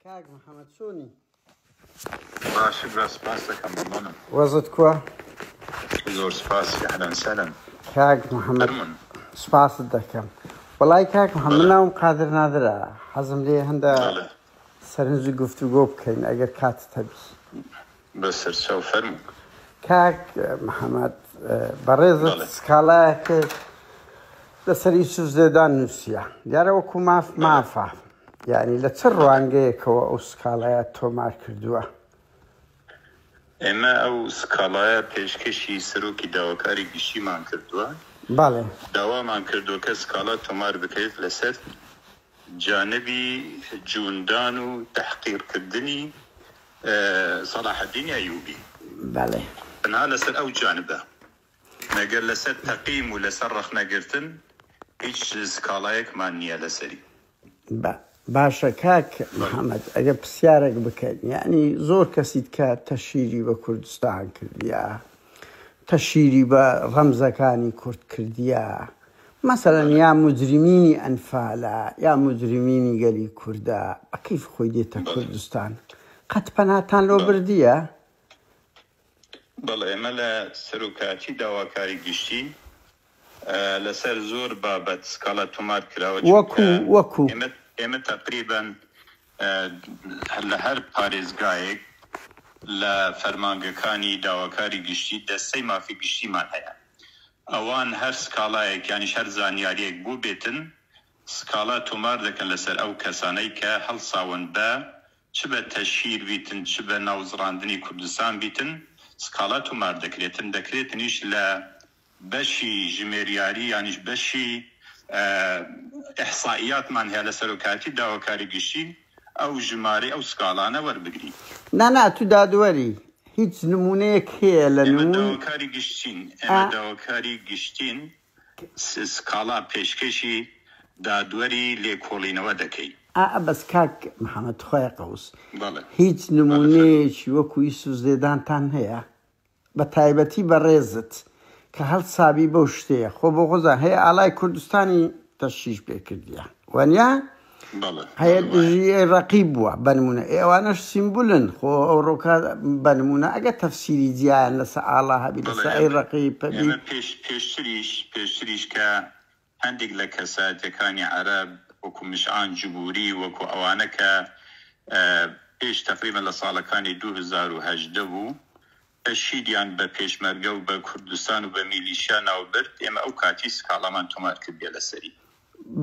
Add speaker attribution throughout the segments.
Speaker 1: کاک محمد چۆنی
Speaker 2: باشی برا سپاس دەکەم بمانم وەزت
Speaker 1: کووە زۆر سپاس
Speaker 2: ئەهلەن سەلەم
Speaker 1: کاک محمد هەرمون سپاست دەکەم وڵای کاک محمد بەڵێ. ناوم قادر نادرە حەزم لێ هەندە بەڵێ. سەرنجی گفتوگۆ بکەین ئەگەر کاتت هەبی بەسەرچاو
Speaker 2: فەرموو. کاک
Speaker 1: محمد بەڕێزت سکاڵایەکت لەسەر یوسف زێدان نووسیە دیارە وەکو ماف مافە یعنی لە چ ڕوانگەیەکەوە ئەو سکاڵایە تۆمار کردووە؟ ئێمە
Speaker 2: ئەو سکاڵایە پێشکەشی سەرۆکی داواکاری گشتیمان کردووە،
Speaker 1: داوامان کردووە
Speaker 2: کە سکاڵا تۆمار بکرێت لەسەر جانبی جووندان و تەحقیرکردنی سەڵاحەدینی ئەیووبی. بەڵێ. تەنها
Speaker 1: لەسەر
Speaker 2: ئەو جانبە. مەگەر لەسەر تەقیم و لەسەر ڕەخنەگرتن هیچ سکاڵایەکمان نییە لەسەری. با.
Speaker 1: باشە کاک محەمەد ئەگەر پرسیارێک بکەین، یەعنی زۆر کەسیت کە تەشهیری بە کوردستان کردیە، تەشهیری بە ڕەمزەکانی کورد کردیە، مەسەلەن یا موجریمینی ئەنفالە یا موجریمینی گەلی کوردە بە کەیف خۆی دێتە کوردستان قەت پەناتان لۆ بردیە؟
Speaker 2: بەڵێ ئێمە لە سەروکاتی داواکاری گشتی لەسەر زۆر بابەت سکاڵا تۆمار کراوە چونکە وەکو
Speaker 1: ئێمە
Speaker 2: تەقریبەن لە هەر پارێزگایەک لە فەرمانگەکانی داواکاری گشتی دەستەی مافی گشتیمان هەیە ئەوان هەر سکاڵایەک یانیش هەر زانیاریەک بۆ بێتن سکاڵا تۆمار دەکەن لەسەر ئەو کەسانەی کە هەڵساون بە چ بە تەشهیر بیتن چ بە ناوزڕاندنی کوردستان بیتن سکاڵا تۆمار دەکرێتن دەکرێتنیش لە بەشی ژمێریاری یانیش بەشی ئیحسائیاتمان هەیە لە سەرۆکایەتی داواکاری گشتی ئەو ژمارەی ئەو سکاڵانە وەربگرین. نا نا تو
Speaker 1: دادوەری هیچ نمونەیەک هەیە لە نمون. ئێمە داواکاری گشتین
Speaker 2: ئێمە داواکاری گشتین سکاڵا پێشکەشی دادوەری لێکۆڵینەوە دەکەین. ئا ئا بەس کاک
Speaker 1: محمد تخوایە قەوس هیچ نمونەیەکی وەکو یوسف زێدانتان هەیە بە تایبەتی بەڕێزت کە هەڵسابی بەو شتەیە خۆ بۆ خۆزان هەیە ئاڵای کوردستانی تەشیش پێ کردیە وەنیا هەیە دژی ئەی ڕەقیب بووە بەنمونە ئێوانەش سیمبولن خۆ ئەو ڕۆکە بەنمونە ئەگە تەفسیری جیان لەسە ئاڵا هەبی لەسە ئەی ڕەقی پێبی پێش پێشتریش
Speaker 2: پێشتریش کە هەندێک لە کەسایەتیەکانی عەرەب وەکو مشعان جبوری وەکو ئەوانە کە پێش تەقریبەن لە ساڵەکانی دوو هەزار و هەژدە بوو کە شیریان بە پێشمەرگە و بە کوردستان و بە میلیشیا ناو برد ئێمە ئەو کاتی سکاڵامان تۆمار کردیە لە سەری.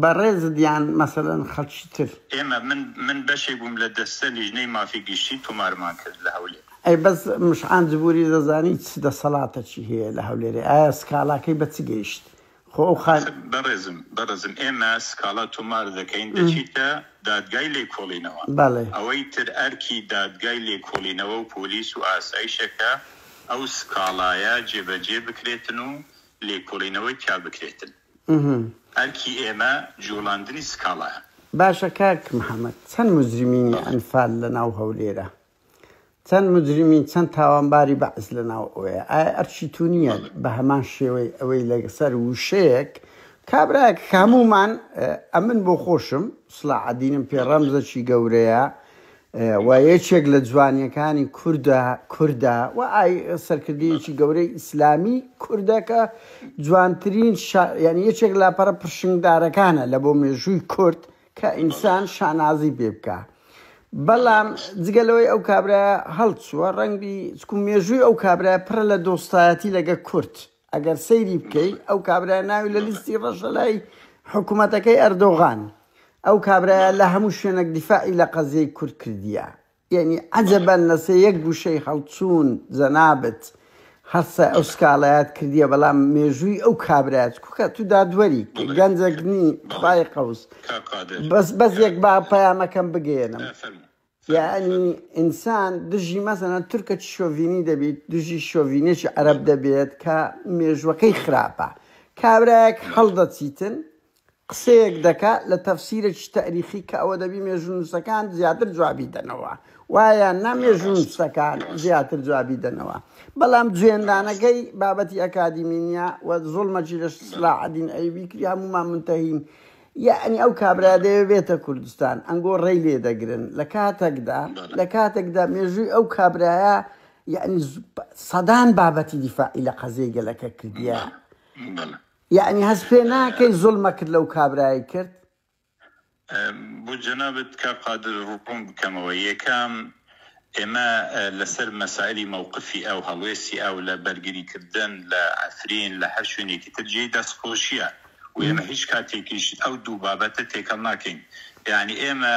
Speaker 2: بەڕێزت
Speaker 1: یان مەسەلەن خەڵکی تر؟ ئێمە من من
Speaker 2: بەشێک بووم لە دەستە لیژنەی مافی گشتی تۆمارمان کرد لە هەولێر. ئەی بەس مشعان
Speaker 1: جبوری دەزانی چ دەسەڵاتەکی هەیە لە هەولێرێ ئایا سکاڵاکەی بە چ گەیشت خۆ ئەو خان. بەڕێزم
Speaker 2: بەڕێزم ئێمە سکاڵا تۆمار دەکەین دەچیتە دادگای لێکۆڵینەوە بەڵێ. ئەوەی تر ئەرکی دادگای لێکۆڵینەوە و پۆلیس و ئاسایشە کە ئەو سکاڵایە جێبەجێ بکرێتن و لێکۆڵینەوەی تیا بکرێتن ئەرکی ئێمە جوڵاندنی سکاڵایە. باشە کاک
Speaker 1: محمد چەند مجرمینی ئەنفال لەناو هەولێرە چەند مجرمین چەند تاوانباری بەعس لەناو ئەوەیە ئایا ئەرکی تو نییە بە هەمان شێوەی ئەوەی لەسەر وشەیەک کابرایەک کە هەموومان ئەمن بۆ خۆشم سڵاعەدینم پێ ڕەمزەکی گەورەیە و یەکێک لە جوانیەکانی کوردە کوردە و ئای سەرکردەیەکی گەورەی ئیسلامی کوردەکە جوانترین ینی یەکێک لاپەرە پرشنگدارەکانە لە بۆ مێژووی کورد کە ئینسان شانازی پێ بکا بەڵام جگە لەوەی ئەو کابرایە هەڵچووە ڕەنگبی چکو مێژووی ئەو کابرای پڕە لە دۆستایەتی لەگە کورد ئەگەر سەیری بکەیت ئەو کابرای ناوی لە لیستی ڕەشە لای حکوومەتەکەی ئەردۆغان ئەو کابرایە لە هەموو شوێنێک دیفاعی لە قەزیەی کورد کردیە یەعنی عەجەبەن لەسە یەک گوشەی هەڵچوون جەنابت هەرسە ئەو سکاڵایەت کردیە بەڵام مێژووی ئەو کابرایە چ کوکە تو دادوەری گەنجەک نی خوای قەوس بەس بەس یەک با پەیامەکەم بگەیەنم یعنی ئینسان دژی مەسەنە تورکە چ شۆڤینی دەبیت دژی شۆڤینێکی عەرەب دەبێت کە مێژوەکەی خراپە کابرایەک هەڵدەچیتن قسەیەک دەکا لە تەفسیرەکی تاریخی کە ئەوە دەبی مێژوونووسەکان زیاتر جوابی دەنەوە وا یان نا ڕاست مێژوونووسەکان ڕاست زیاتر جوابی دەنەوە بەڵام جوێندانەکەی بابەتی ئەکادیمی نیە و زوڵمەکی لە سلاحەدین ئەیوبی کری هەموومان منتەهین یەعنی ئەو کابرا دەیەوێ بێتە کوردستان ئەنگۆ ڕێی لێ دەگرن لە کاتەکدا بەڵێ لە کاتەکدا مێژووی ئەو کابرایە یەعنی سەدان بابەتی دیفاعی لە قەزیەی گەلەکە کردیە بەڵێ بەڵێ یەعنی هەست پێ ناکەی زوڵمەکت لەو کابرایە کرد؟
Speaker 2: بۆ جەنابت کاک قادر ڕوون بکەمەوە، یەکەم ئێمە لەسەر مەسایلی مەوقفی ئەو هەڵوێستی ئەو لە بەرگری کردن لە عەفرین لە هەر شوێنێکی تر جێی دەست خۆشیە و ئێمە هیچ کاتێکیش ئەو دوو بابەتە تێکەڵ ناکەین یەعنی ئێمە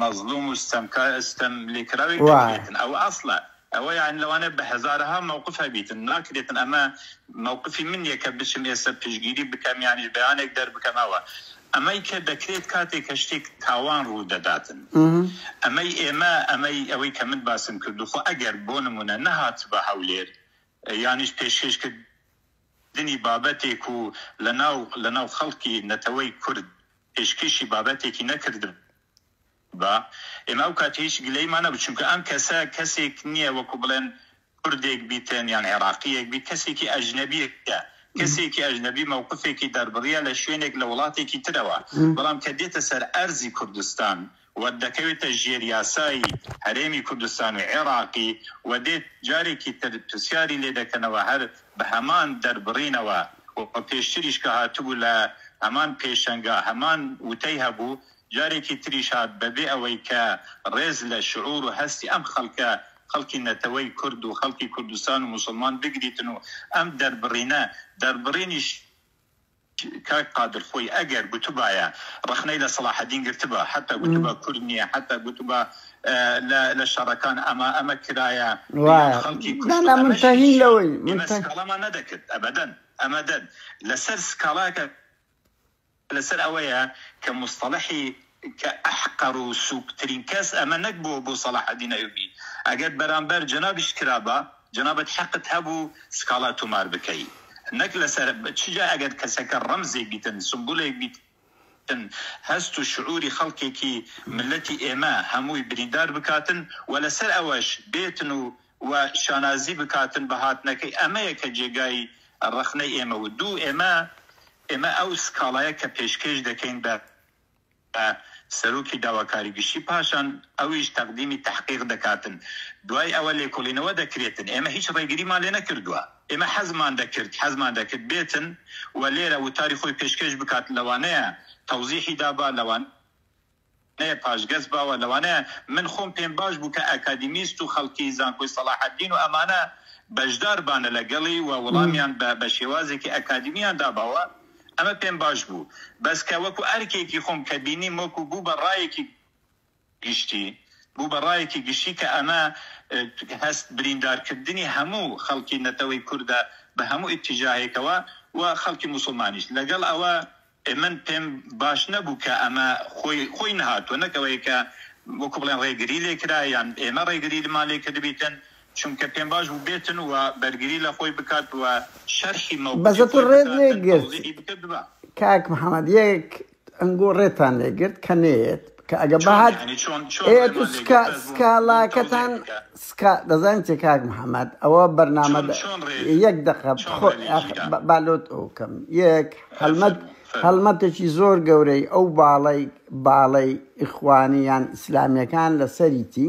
Speaker 2: مەزلوم و ستەمکار ستەم لێکراوێک دەکرێتن ئەوە ئەسڵە ئەوە یان لەوانە بە هەزارەها مەوقف هەبیتن ناکرێتن ئەمە مەوقفی من نیە کە بچم ئێستا پشگیری بکەم یانیش بەیانێک دەربکەم ئەوە ئەمەی کە دەکرێت کاتێک کە شتێک تاوان ڕوو دەداتن ئەمەی ئێمە ئەمەی ئەوەی کە من باسم کردو خۆ ئەگەر بۆ نمونە نەهاتبا هەولێر یانیش پێشکێش کرد کردنی بابەتێک و لەناو لەناو خەڵکی نەتەوەی کورد پێشکێشی بابەتێکی نەکردبا ئێمە ئەو کاتە هیچ گلەیمان نەبوو چونکە ئەم کەسە کەسێک نیە وەکو بڵێن کوردێک بیتن یان عێراقیەک بیت کەسێکی ئەژنەبیە کەسێکی ئەژنەبی مەوقفێکی دەربڕیە لە شوێنێک لە وڵاتێکی ترەوە بەڵام کە دێتە سەر ئەرزی کوردستان و دەکەوێتە ژێر یاسایی هەرێمی کوردستان و عێراقی و دێت جارێکی تر پرسیاری لێ دەکەنەوە هەر بە هەمان دەربڕینەوە و پێشتریش کە هاتبوو لە هەمان پێشەنگا هەمان وتەی هەبوو جارێکی تریش هات بە بێ ئەوەی کە ڕێز لە شعور و هەستی ئەم خەڵکە خەڵکی نەتەوەی کورد و خەڵکی کوردستان و موسڵمان بگریتن و ئەم دەربڕینە دەربڕینی کاک قادر خۆی ئەگەر گوتبایە ڕەخنەی لە سەڵاحەدین گرتبا حەتا گوتبا کورد نیە حەتا گوتبا لە لە شەڕەکان ئەما ئەمە کرایە یان خەڵکی
Speaker 1: کوشت ئەمەش هیچ ئێمە سکاڵامان
Speaker 2: نەدەکرد ئەبەدەن ئەمەدەن لەسەر سکاڵاکە لەسەر ئەوەیە کە موستەڵەحی کە احقر و سوک ترین کەس ئەمە نەک بووە بۆ سەڵاحەدین ئەیوبی ئەگەر بەرامبەر جەنابیشت کرابا جەنابت حەقت هەبوو سکاڵا تومار بکەی نەک لەسەر چ جا ئەگەر کەسەکە ڕەمزێک بیتن سمبولێک بیتن هەست و شعوری خەڵکێکی ملەتی ئێمە هەمووی بریندار بکاتن و لەسەر ئەوەش بێتن و و شانازی بکاتن بە هاتنەکەی ئەمەیە کە جێگای ڕەخنەی ئێمە و دوو ئێمە ئێمە ئەو سکاڵایە کە پێشکێش دەکەین بە بە سەرۆکی داواکاری گشتی پاشان ئەویش تەقدیمی تەحقیق دەکاتن دوای ئەوە لێکۆڵینەوە دەکرێتن ئێمە هیچ ڕێگریمان لێ نەکردوە ئێمە حەزمان دەکرد حەزمان دەکرد بێتن و لێرە وتاری خۆی پێشکەش بکات لەوانەیە تەوزیحی دابا لەوان نەیە پاشگەز باوە لەوانەیە من خۆم پێم باش بوو کە ئەکادیمیست و خەڵکی زانکۆی سەڵاحەدین و ئەمانە بەشدار بانە لەگەڵی و وڵامیان بە بە شێوازێکی ئەکادیمیان داباوە ئەمە پێم باش بوو بەس کە وەکو ئەرکێکی خۆم کە بینیم وەکو بوو بە ڕایەکی گشتی بوو بە ڕایەکی گشتی کە ئەمە هەست بریندار کردنی هەموو خەڵکی نەتەوەی کوردە بە هەموو ئیتیجاهێکەوە و خەڵکی موسڵمانیش لەگەڵ ئەوە من پێم باش نەبوو کە ئەمە خۆی خۆی نەهاتووە نەک ئەوەیە کە وەکو بڵێن ڕێگری لێ کرا یان ئێمە ڕێگریمان لێ کردبیتن چونکە پێمباش بوو بێتن و بەرگری لە خۆی
Speaker 1: بکات و شەرحی مەوقفی خۆی بکات، تەوزیحی بکرد بە. کاک محمد یەک ئەنگۆ ڕێتان لێ گرت کە نەیەت کە ئەگە بهات ئێت و سکا سکاڵاکەتان سکا دەزانن چێ کاک محمد ئەوە بەرنامە یەک دەقە بالۆت ئەو کەم یەک هەلمەت هەڵمەتێکی زۆر گەورەی ئەو باڵی باڵی ئیخوانیان ئیسلامیەکان لەسەریتی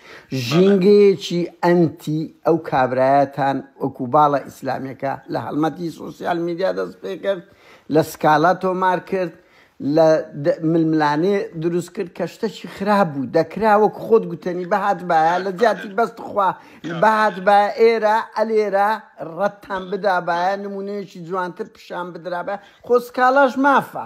Speaker 1: ژینگەیەکی ئەنتی ئەو کابرایەتان وەکو باڵە ئیسلامیەکە لە هەڵمەتی سۆسیال میدیا دەست پێکرد لە سکاڵا تۆمار کرد لە ململانێ دروست کرد کە شتەکی خراپ بوو دەکرا وەک خۆت گوتنی بەهات باە لە جیاتی بەست خوا بەهات با ئێرە ئەلێرە ڕەتتان بدابایە نمونەیەکی جوانتر پیشان بدرابە خۆسکاڵاش مافە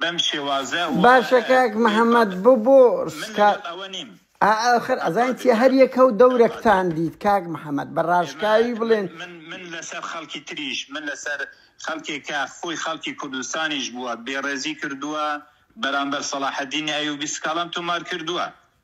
Speaker 2: بەم شێوازە و باشە کاک
Speaker 1: محمد بۆ بۆ من سکا لەگەڵ
Speaker 2: ئەوە نیم ئاخر ئەزانیت
Speaker 1: چیە هەر ئەفراد یەکە و دەورەک ئەفراد تان دیت کاک محمد بە ئێمە راشکاوی من بڵێن من من لەسەر
Speaker 2: خەڵکی تریش من لەسەر خەڵکێک کە خۆی خەڵکی کوردستانیش بووە بێڕێزی کردووە بەرامبەر سەڵاحەدینی ئەیوبی سکاڵام تۆمار کردووە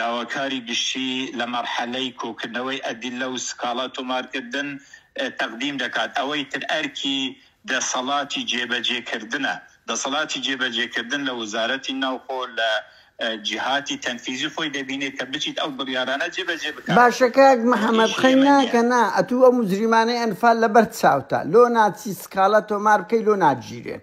Speaker 2: داواکاری گشتی لە مەرحەلەی کۆکردنەوەی ئەدیللە و سکاڵا تۆمارکردن تەقدیم دەکات، ئەوەی تر ئەرکی دەسەڵاتی جێبەجێکردنە، دەسەڵاتی جێبەجێکردن لە وەزارەتی ناوخۆ لە جیهاتی تەنفیزی خۆی دەبینێت کە بچیت ئەو بڕیارانە جێبەجێ بکات. باشە کاک محمد
Speaker 1: خەی ناکە نا ئەتوو ئەو مجریمانەی ئەنفال لەبەر چاوتە لۆ ناچی سکاڵا تۆمار بکەی لۆ ناگیرێن.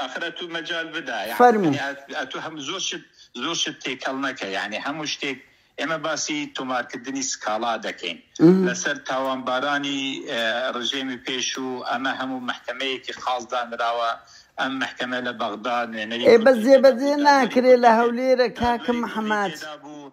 Speaker 2: ئەخر ئەتوو مەجال بدە یعنی فەرموو. یعنی ئەتوو هەم زۆر شت زۆر شت تێکەڵ نەکە یعنی هەموو شتێک ئێمە باسی تۆمارکردنی سکاڵا دەکەین لەسەر تاوانبارانی اه، ڕژێمی پێشوو ئەمە هەموو محکمەیەکی خاڵ دانراوە ئەم محکمە لە بەغدا نوێنەری ئێ بەس کوردی تێدا بوو، جێبەجێ
Speaker 1: دادوەری ناکرێ کوردی لە تێ- هەولێرە کاکە دادوەری کوردی محمد تێدا بوو،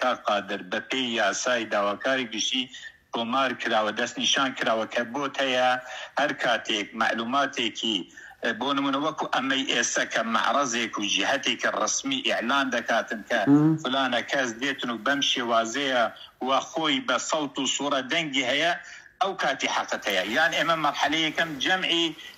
Speaker 2: کاک قادر بەپێی یاسای داواکاری گشتی تۆمار کراوە دەستنیشان کراوە کە بۆت هەیە هەر کاتێک مەعلوماتێکی بۆ نموونە وەکو ئەمەی ئێستا کە مەعڕەزێک و جیهەتێکی ڕەسمی ئیعلان دەکاتن کە فلانە کەس دێتن و بەم شێوازەیە و خۆی بە سەوت و سوڕە دەنگی هەیە ئەو کاتی حەقت هەیە یان ئێمە مەرحەلە یەکەم جەمعی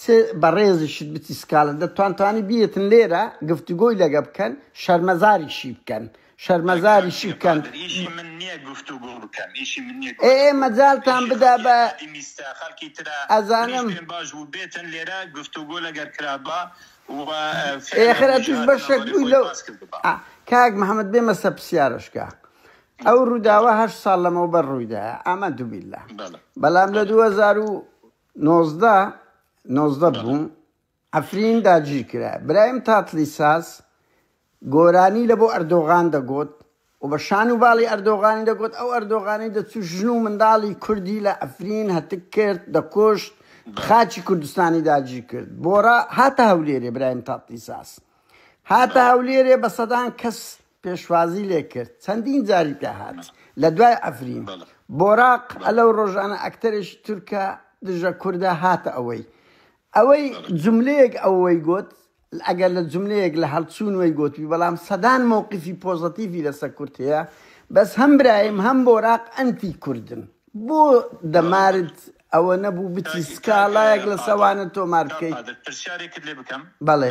Speaker 1: چ بەڕێزیشت بتی سکالە دەتوان توانی بیێتن لێرە گفتوگۆی لەگە بکەن شەرمەزاری شی بکەن شەرمەزاری شی بکەن ئێ مەجالتان بدا بە
Speaker 2: ئەزانم
Speaker 1: ئێخر ئەتوش بەشێک بووی لەو کاک محەممەد بێ مەسە پرسیارشکە ئەو ڕووداوە هەشت ساڵ لەمەوبەر ڕوویدا ئامە دوبیلا بەڵام لە 2000 نۆزدە نۆزدە بەڵێ. بووم عەفرین داگیر کرا برایم تاتڵی ساز گۆرانی لەبۆ ئەردۆغان دەگۆت و بە شان و باڵی ئەردۆغانی دەگۆت ئەو ئەردۆغانەی دەچوو ژن و منداڵی کوردی لە عەفرین هەتک کرد دەکوشت بەڵێ. خاکی کوردستانی داگیر کرد بۆڕا هاتە هەولێرێ برایم تاتڵی ساز هاتە بەڵێ. هەولێرێ بە سەدان کەس پێشوازی لێ کرد چەندین جاری پێ هات لە دوای عەفرین بۆراق ئەلەو ڕۆژانە ئەکتەرێکی تورکە دژە کوردە هاتە ئەوەی ئەوەی جملەیەک ئەوەی گۆت ئەگەر لە جملەیەک لە هەڵچوون وەی گۆتوی بەڵام سەدان مووقفی پۆزەتیفی لەسە کورت هەیە بەس هەم برایم هەم بۆراق ئەنتی کوردن بۆ دەمارت ئەوە نەبوو بچی سکاڵایەک لە سەوانە تۆمار بکەیت
Speaker 2: بەڵێ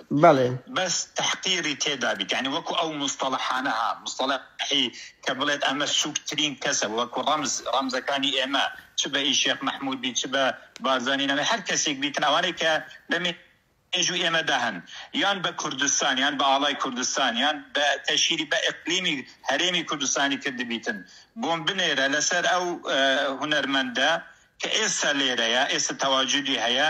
Speaker 2: بەڵێ. بەس
Speaker 1: تەحقیری
Speaker 2: تێدا بیت یانی وەکو ئەو موستەڵەحانە ها موستەڵەحی کە بڵێت ئەمە سوک ترین کەسە وەکو ڕەمز ڕەمزەکانی ئێمە چ بە ئی شێخ مەحمود بیت چ بە بارزانی نەمێ هەر کەسیک بیتن ئەوانەی کە لە مێ ژوی ئێمە دا هەن یان بە کوردستان یان بە ئاڵای کوردستان یان بە تەشیری بە ئیقلیمی هەرێمی کوردستانی کردبیتن بۆم بنێرە لە سەر ئەو هونەرمەندە کە ئێستا لێرەیە ئێستا تەواجودی هەیە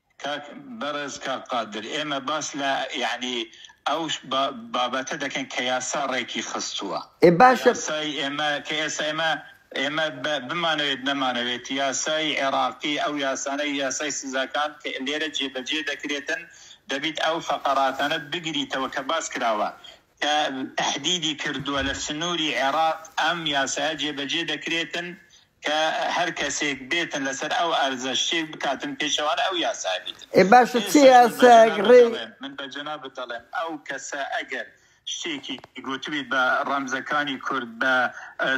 Speaker 1: کاک
Speaker 2: بەڕێز کاک قادر ئێمە باس لە یەعنی ئەو با بابەتە دەکەین کە یاسا ڕێکی خستووە ئێ باشە یاسای
Speaker 1: ئێمە کە
Speaker 2: ئێستا ئێمە ئێمە بە بمانەوێت نەمانەوێت یاسای عێڕاقی ئەو یاسانەی یاسای سزاکان کە لێرە جێ بەجێ دەکرێتن دەبیت ئەو فەقەڕاتانە بگریتەوە کە باس کراوە کە تەهدیدی کردووە لە سنووری عێراق ئەم یاسایە جێبەجێ دەکرێتن کە هەر کەسێک بێتن لەسەر ئەو ئەرزە شتێک بکاتن پێچەوانەی ئەو یاسایە بیتن، ئێ باشە چ ئێستاش من بە یاسایەک
Speaker 1: جەنابت ڕێ دەڵێم من بە
Speaker 2: جەنابت دەڵێم ئەو کەسە ئەگەر شتێکی گوتبیت بە ڕەمزەکانی کورد بە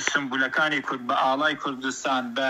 Speaker 2: سومبولەکانی کورد بە ئاڵای کوردستان بە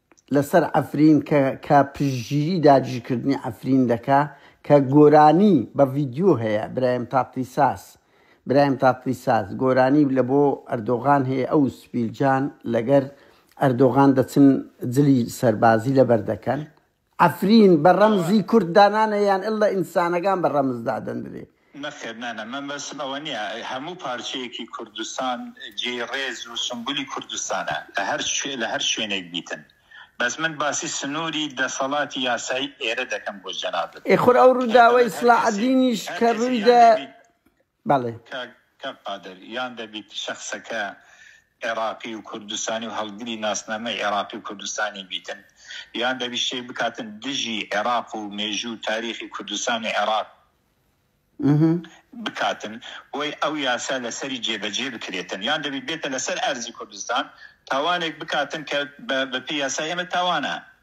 Speaker 1: لەسەر عەفرین کە کە پشتگیری داگیرکردنی عەفرین دەکا کە گۆرانی بە ڤیدیۆ هەیە برایم تاتلیساس برایم تاتلیساس گۆرانی لە بۆ ئەردۆغان هەیە ئەو سپیلجان لەگەر ئەردۆغان دەچن جلی سەربازی لەبەر دەکەن عەفرین بە ڕەمزی کورد دانانێ یان اللە ئینسانەکان بە ڕەمز دادەندرێ؟ نەخێر نانا من
Speaker 2: بەسم ئەوە نیە هەموو پارچەیەکی کوردستان جێی ڕێز و سومبولی کوردستانە لە هەر شوێ لە هەر شوێنێک بیتن بەس من باسی سنوری دەسەڵاتی یاسایی ئێرە دەکەم بۆ جەنابت ئێ خۆر ئەو ڕووداوەی
Speaker 1: سڵاحەدینیش کە ڕووی دا. بەڵێ. کاک کاک
Speaker 2: قادر یان دەبیت شەخسەکە عێڕاقی و کوردستانی و هەڵگری ناسنامەی عێڕاقی و کوردستانی بیتن یان دەبیت شتێک بکاتن دژی عێڕاق و مێژوو تاریخی کوردستانی عێڕاق بکاتن بۆی ئەو یاسا لەسەری جێبەجێ بکرێتن یان دەبیت بێتە لەسەر ئەرزی کوردستان تاوانێک بکاتن کە بە بەپێی یاسای ئێمە تاوانە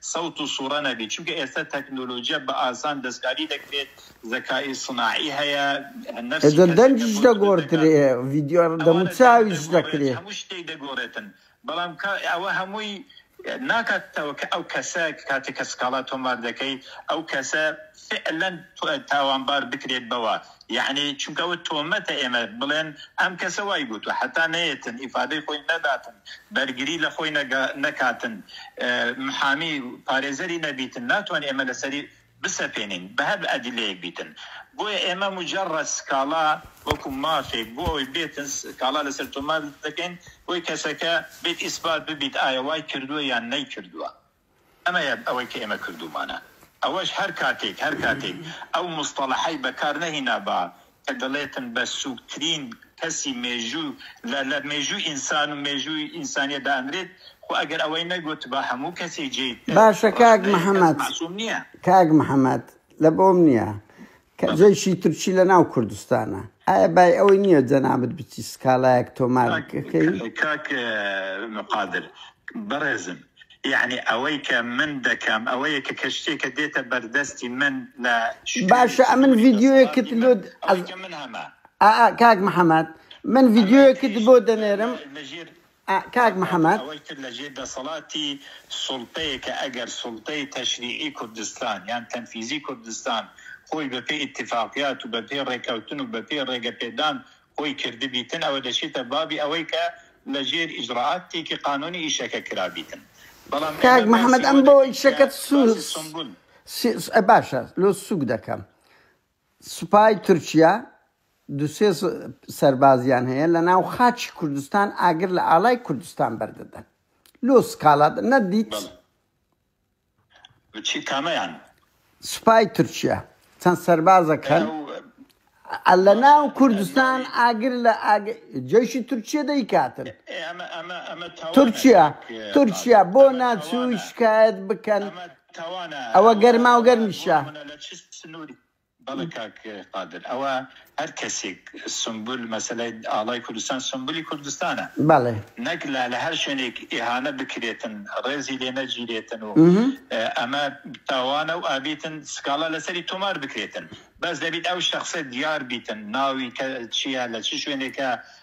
Speaker 2: سەوت و سوڕە نەبێت چونکە ئێستا تەکنۆلۆجیا بە ئاسان دەستکاری دەکرێت زەکائی صناعی هەیە نەفسی ئێجا کەسەکە دەنگیش
Speaker 1: بۆ دروست دەگۆردرێ دەکات ڤیدیۆ دەموو ئەوانە دەنگ چاویش دەگۆڕێت دەکرێ. هەموو شتێک دەگۆڕێتن
Speaker 2: بەڵام کا ئەوە هەمووی ناکاتەوە کە ئەو کەسە کاتێک کە سکاڵا تۆمار دەکەی ئەو کەسە فعلەن تاوانبار بکرێت بەوە یەعنی چونکە ئەوە تۆمەتە ئێمە بڵێن ئەم کەسە وای گوتوە حەتا نەیەتن ئیفادەی خۆی نەداتن بەرگری لە خۆی نەکاتن محامی پارێزەری نەبیتن ناتوانین ئێمە لەسەری بسەپێنین بە هەر ئەدلەیەک بیتن بۆیە ئێمە مجەڕەد سکاڵا وەکو مافێک بۆ ئەوەی بێتن سکاڵا لەسەر تۆمار دەکەین بۆی کەسەکە بێت ئیسبات ببیت ئایا وای کردووە یان نەیکردووە. ئەمەیە ئەوەی کە ئێمە کردوومانە. ئەوەش هەر کاتێک، هەر کاتێک ئەو موستەڵەحەی بەکار نەهینابا کە دەڵێتن بە سووکترین کەسی مێژوو لە لە مێژووی ئینسان و مێژووی ئینسانییە دانرێت، خۆ ئەگەر ئەوەی نەگوتبا هەموو کەسێک جێی باشە کاک ڕەخنەیەکەس
Speaker 1: محمد، مەعسووم نییە. کاک محمد لە بۆم نییە کە جەیشی تورکی لە ناو کوردستانە ئایا بای ئەوەی نییە جەنابت بچی سکاڵایەک تۆمار بکەی؟ کاک
Speaker 2: قادر بەڕێزم یەعنی ئەوەی کە من دەکەم ئەوەیە کە کە شتێکە دێتە بەردەستی من لە شوێنێکی باشە ئەمن
Speaker 1: ڤیدیۆیەکت لۆ ئەوەی کە من هەمە ئا کاک محەمەد من ڤیدیۆیەکت بۆ دەنێرم. لە ژێر ئا کاک محمد. ئەوەی تر لە ژێر
Speaker 2: دەسەڵاتی سوڵتەیە کە ئەگەر سوڵتەی تەشریعی کوردستان یان تەنفیزی کوردستان خۆی بە پێی ئیتیفاقیات و بە پێی ڕێکەوتن و بە پێی ڕێگە پێدان خۆی کردبیتن ئەوە دەچێتە بابی ئەوەی کە لە ژێر ئیجڕائات تێکی قانوونی ئیشەکە کرابیتن بەڵام کاک
Speaker 1: محمد ئەم بۆ ئیشەکەت سووک باشە لۆ سووک دەکەم سوپای تورکیا دوو سێ سەربازیان هەیە لە ناو خاکی کوردستان ئاگر لە ئاڵای کوردستان بەردەدەن لۆ سکاڵات نەدیت چی
Speaker 2: کامەیان سوپای
Speaker 1: تورکیا چەند سەربازەکە ئەو لە ناو کوردستان ئاگر لە ئاگ- جەشی تورکیە دەیکاتن ئێ، ئەمە ئەمە ئەمە تاوانە تورکیا کاک تورکیا بۆ قادر، ئەمە ناچووی تاوانە. شکایەت بکەن ئەمە- تاوانە ئەوە گەرما و گەرمی شە. منە
Speaker 2: لە چ سنوری بەڵێ کاک قادر ئەوە هەر کەسێک سنبول مەسەلەی ئاڵای کوردستان سنبولی کوردستانە بەڵێ نەک
Speaker 1: لا لە هەر
Speaker 2: شوێنێک ئیهانە بکرێتن ڕێزی لێ نەگیرێتن و ئەمە تاوانە و ئابیتن سکاڵا لەسەری تۆمار بکرێتن بەس دەبیت ئەو شخصە دیار بیتن ناوی کە چیە لە چ شوێنێکە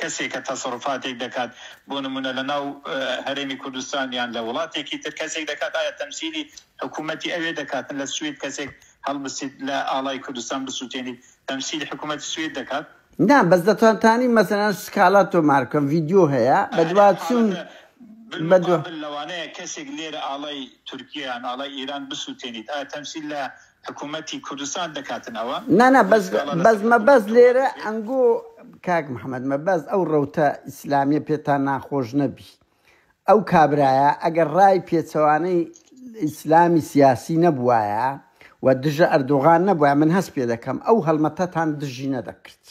Speaker 2: کەسێک کە تەسەروفاتێک دەکات بۆ نموونە لە ناو هەرێمی کوردستان یان لە وڵاتێکی تر کەسێک دەکات ئایا تەمسیلی حکوومەتی ئەوێ دەکات لە سوید کەسێک هەڵبستیت لە ئاڵای کوردستان بسووتێنیت تەمسیلی حکوومەتی سوید دەکات؟ نا بەس
Speaker 1: دەتانتانی مەسەلەن سکالا تۆمار بکەن ڤیدیۆ هەیە بەدواچوون بەدوا.
Speaker 2: بالمقابل لەوانەیە کەسێک لێرە ئاڵای تورکیە یان ئاڵای ئیران بسووتێنیت ئایا تەمسیل لە حکومەتی کوردستان دەکاتن ئەوە نا نا
Speaker 1: بەس بەس مەبەست لێرە ئەنگۆ کاک محەممەد مەبەست ئەو ڕوتە ئیسلامیە پێتان ناخۆش نەبی ئەو کابرایە ئەگەر ڕای پێچەوانەی ئیسلامی سیاسی نەبوایە و دژە ئەردۆغان نەبووە من هەست پێ دەکەم ئەو هەڵمەتەتان دژی نەدەکرد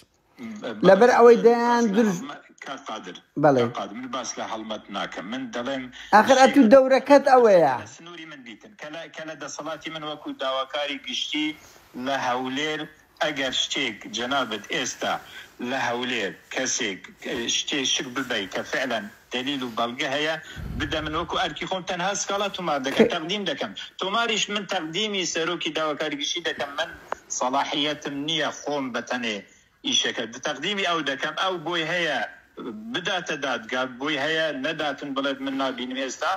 Speaker 1: لەبەر ئەوەی دەیان درز کاک قادر بەڵێ
Speaker 2: کاک قادر من باس لە هەڵمەت ناکەم من دەڵێم ئاخر ئەتوو شتێکە
Speaker 1: دەورەکەت ئەوەیە لە سنووری من بیتن کە
Speaker 2: لە کە لە دەسەڵاتی من وەکو داواکاری گشتی لە هەولێر ئەگەر شتێک جەنابت ئێستا لە هەولێر کەسێک اه، شتێ شک ببەی کە فعلا دەلیل و بەڵگە هەیە بدە من وەکو ئەرکی خۆم تەنها سکاڵا تومار دەکەم تەقدیم دەکەم تۆماریش من تەقدیمی سەرۆکی داواکاری گشتی دەکەم من سەڵاحیەتم نیە خۆم بەتەنێ ئیشەکە تەقدیمی ئەو دەکەم ئەو بۆی هەیە بداتە دادگا بۆی هەیە نەداتن بڵێت من نابینم ئێستا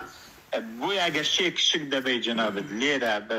Speaker 2: بۆی ئەگەر شێک شک دەبەی جەنابت لێرە بە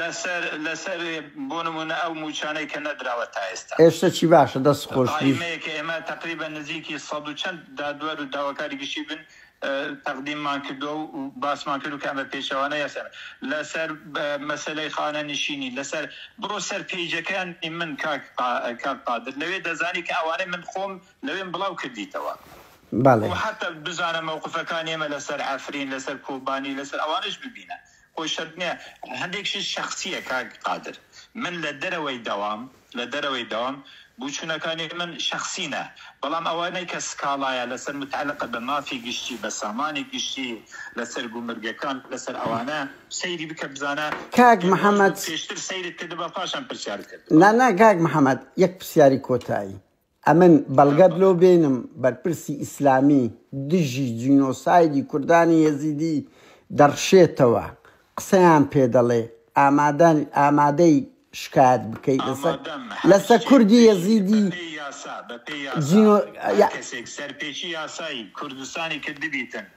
Speaker 1: لەسەر
Speaker 2: لەسەر بۆ نموونە ئەو مووچانەی کە نەدراوە تا ئێستا. ئێشتە چی باشە دەست
Speaker 1: خۆش بژ. قایمەیە کە ئێمە تەقریبەن
Speaker 2: نزیکی سەد و چەند دادوەر و داواکاری گشتی بن تەقدیممان کردوە و باسمان کردو کە ئەمە پێچەوانە یاسایە لەسەر مەسەلەی خانە نشینی لەسەر بڕۆ سەر پەیجەکانی من کاک کاک قادر لەوێ دەزانی کە ئەوانەی من خۆم لەوێم بڵاو کردیتەوە بەڵێ. و حەتا بزانە مەوقفەکانی ئێمە لەسەر عەفرین لەسەر کۆبانی لەسەر ئەوانەش ببینە. خۆی شەرت نیە هەندێکشی شەخسیە کاک قادر من لە دەرەوەی دەوام لە دەرەوەی دەوام بوچونەکانی من شەخسینە بەڵام ئەوانەی کە سکاڵایە لەسەر متعلقە بە مافی گشتی بە سامانی گشتی لەسەر گومرگەکان لەسەر ئەوانە سەیری بکە بزانە کاک پێنج ڕۆژ محمد
Speaker 1: بەپێشتر سەیرت
Speaker 2: کردبا پاشان پرسیارت کردبا. نا نا کاک محمد
Speaker 1: یەک پرسیاری کۆتایی ئەمن بەڵگەت لۆ بێنم بەرپرسی ئیسلامی دژی جینۆسایدی کوردانی یەزیدی دەڕشێتەوە قسەیان پێ دەڵێ ئامادەن ئامادەی شکایەت بکەی لەسەر ئامادەم هەر لەسە کچێک کوردی بێژی یەزیدی بە پێی یاسا بە پێی یاسا جینۆ
Speaker 2: هەر کەسێک سەرپێچی یاسای کوردستانی کردبیتن